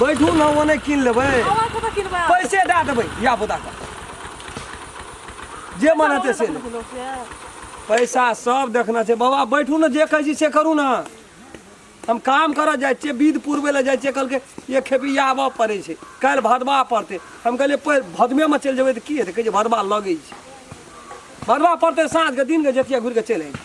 बैठू ने ओने कीन लेबै पैसे दए देबै या बुदा जे मन हेतै से पैसा सब देखना छै बाबा बैठू ने जे कहै छी से करू ने हम काम करऽ जाइ छियै विध पुरबै लए जाइ छियै कहलकै ये खेपी आबऽ पड़ै छै काल्हि भदबा पड़तै हम कहलियै भदमेमे चलि जेबै तऽ की हेतै कहै छै भदबा लगै छै भदबा पड़तै साँझके दिनके जेतिया घुरि कऽ चलि अयबै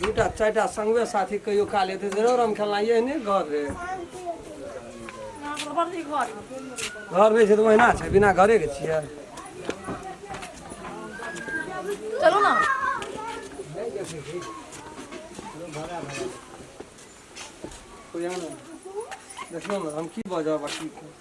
दूटा चारिटा संगे साथी कहियो काल एतै तऽ रम खेलना यही नहि घर रे घर नहि छै तऽ ओहिना छै बिना घरेके छियै चलू ने देखियौ ने हम की बजब आ की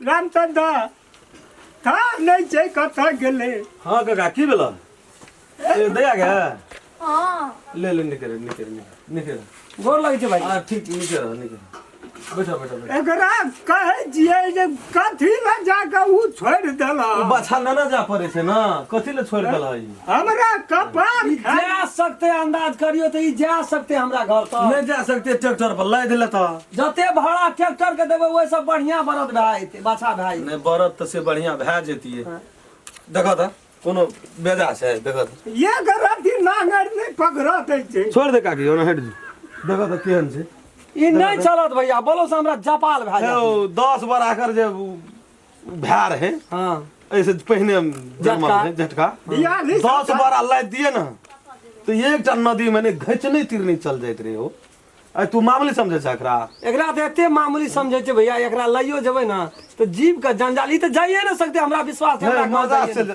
रामचंद दा का नहीं छै कतऽ गेलै हाँ काका की भेल ए दया गे हाँ ले ले निकल निकल निकल निकल गोर लगै छै भाई हाँ ठीक निकल निकल बैठा बैठा बैठा एकरा कहै छियै जे कथी लए जाकऽ ऊ छोड़ि देलक बच्चा ना ना जा पड़े छै ना कथी ले छोड़ देल है हमरा कपार ई खा जा सकते अंदाज करियो तो ई जा सकते हमरा घर तक नहीं जा सकते ट्रैक्टर पर लाद लेता जते भाड़ा ट्रैक्टर के देबे ओहि से बढ़िया बरद भाई ते बाछा भाई नहीं बरत तो से बढ़िया भै जेती है हाँ। देखा था कोनो बेजा से देखा था ये गरती नांगर नहीं पकड़ा दै छै छोड़ दे काकी ओना हट जी देखा था केहन से ई नहीं चलत भैया बोलो से हमरा जपाल भाई ओ दस बार आकर जे उ भए रहे हाँ ऐसे पहिने जन्म झटका। रहे झटका बियाह नहीं दस बारह लाद दिए ना तो एकटा नदी में ने घच नहीं तीर नहीं चल जाइत रहे हो अरे तू मामूली समझे छै एकरा एकरा तऽ एते मामूली समझै छै भैया एकरा लइयो जेबै ने तऽ जीव के जंजाल ई तऽ जाइए ने सकते हमरा विश्वास है, हमरा गाँव मजा जाइए से ने।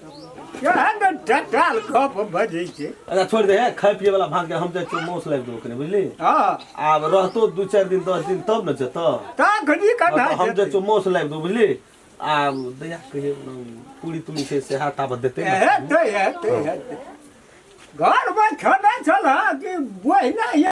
केहन टटाल गप बजै छै अच्छा छोड़ दे खाए पिए वाला भात के हम जाए मौस लाग दो कने बुझली हँ आब रहतो दू चारि दिन दस दिन तब ने जतो ता घड़ी का ना हम जेतै। जाए मौस लाग दो बुझली आ दया कहिए पूरी तुरी से से हाथ आबत देते हेतै हेतै हेतै घरमे खेने छल कि बहिना